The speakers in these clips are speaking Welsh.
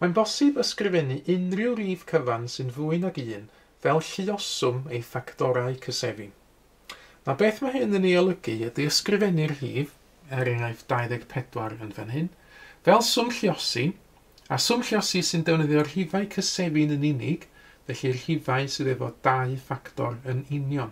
Mae'n bosib ysgrifennu unrhyw rif cyfan sy'n fwy nag un fel lluoswm ei ffactorau cyseddi. Na beth mae hyn yn ei olygu ydy ysgrifennu'r rhif, er enghraifft 24 yn fan hyn, fel swm lluosi, a swm lluosi sy'n defnyddio rhifau cyseddi'n yn unig, felly rhifau sydd efo dau ffactor yn union.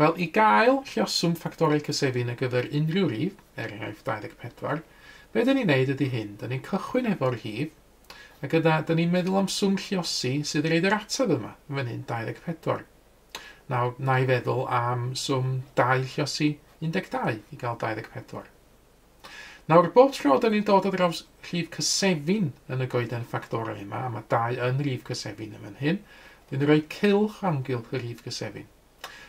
Wel, i gael lluoswm ffactorau cysefin ar gyfer unrhyw rif, er enghraifft 24, be dyn ni'n neud ydy hyn, dyn ni'n cychwyn hefo'r rhif, a gyda, dyn ni'n meddwl am swm lluosi sydd yn roid yr ateb yma, yn fan hyn, 24. Nawr, na i feddwl am swm dau lluosi 12 i gael 24. Nawr, bob tro 'da ni'n dod ar draws rhif cysefin yn y goeden ffactorau yma, a mae 2 yn rif cysefin yn fan hyn, dyn ni'n rhoi cylch amgylch y rhif cysefin.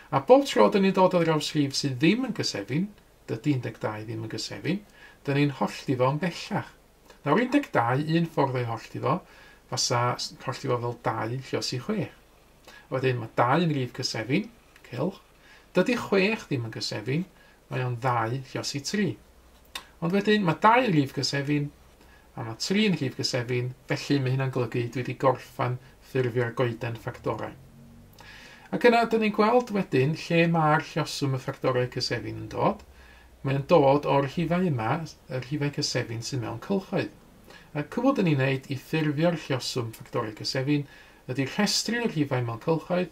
A bob tro 'da ni'n dod ar draws rhif sydd ddim yn gysefin, dydy 12 ddim yn gysefin, dyn ni'n hollti fo yn bellach. Nawr, 12, un ffordd o'i hollti fo, fasa hollti fo fel 2 lle os i 6. A wedyn mae 2 yn rif cysefin, cylch, Dydy chwech ddim yn gysefin, mae o'n ddau lluos i tri. Ond wedyn, mae dau yn rhif gysefin, a mae tri yn rhif gysefin, felly mae hynna'n golygu dwi wedi gorffen ffurfio'r goeden ffactorau. Ac yna, dyn ni'n gweld wedyn lle mae'r lluoswm y ffactorau cysefin yn dod. Mae o'n dod o'r rhifau yma, y rhifau cysefin sydd mewn cylchoedd. A cwbl dyn ni'n neud i ffurfio'r lluoswm ffactorau cysefin ydy rhestru'r rhifau mewn cylchoedd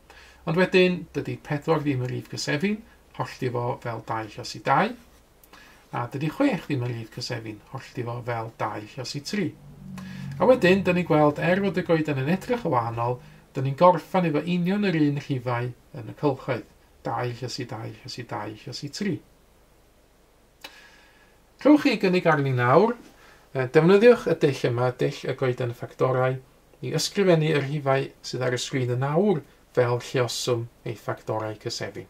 Ond wedyn, dydy pedwar ddim yn rif cysefin, hollti fo fel dau llosi dau. A dydy chwech ddim yn rif cysefin, hollti fo fel dau llosi tri. A wedyn, dyn ni'n gweld, er fod y goeden yn edrych yn wahanol, dyn ni'n gorffan efo union yr un rhifau yn y cylchoedd, dau llosi dau llosi dau llosi tri. Rhowch chi gynnig arni nawr. Defnyddiwch y dull yma, dull y goeden ffactorau, i ysgrifennu y rhifau sydd ar y sgrin yn awr fel lluoswm ei ffactorau cyseddi.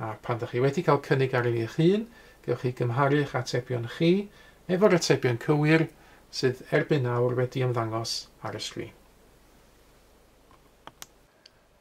A pan ydych chi wedi cael cynnig arni eich hun, gewch chi gymharu eich atebion chi efo'r atebion cywir sydd erbyn nawr wedi ymddangos ar y sgrin.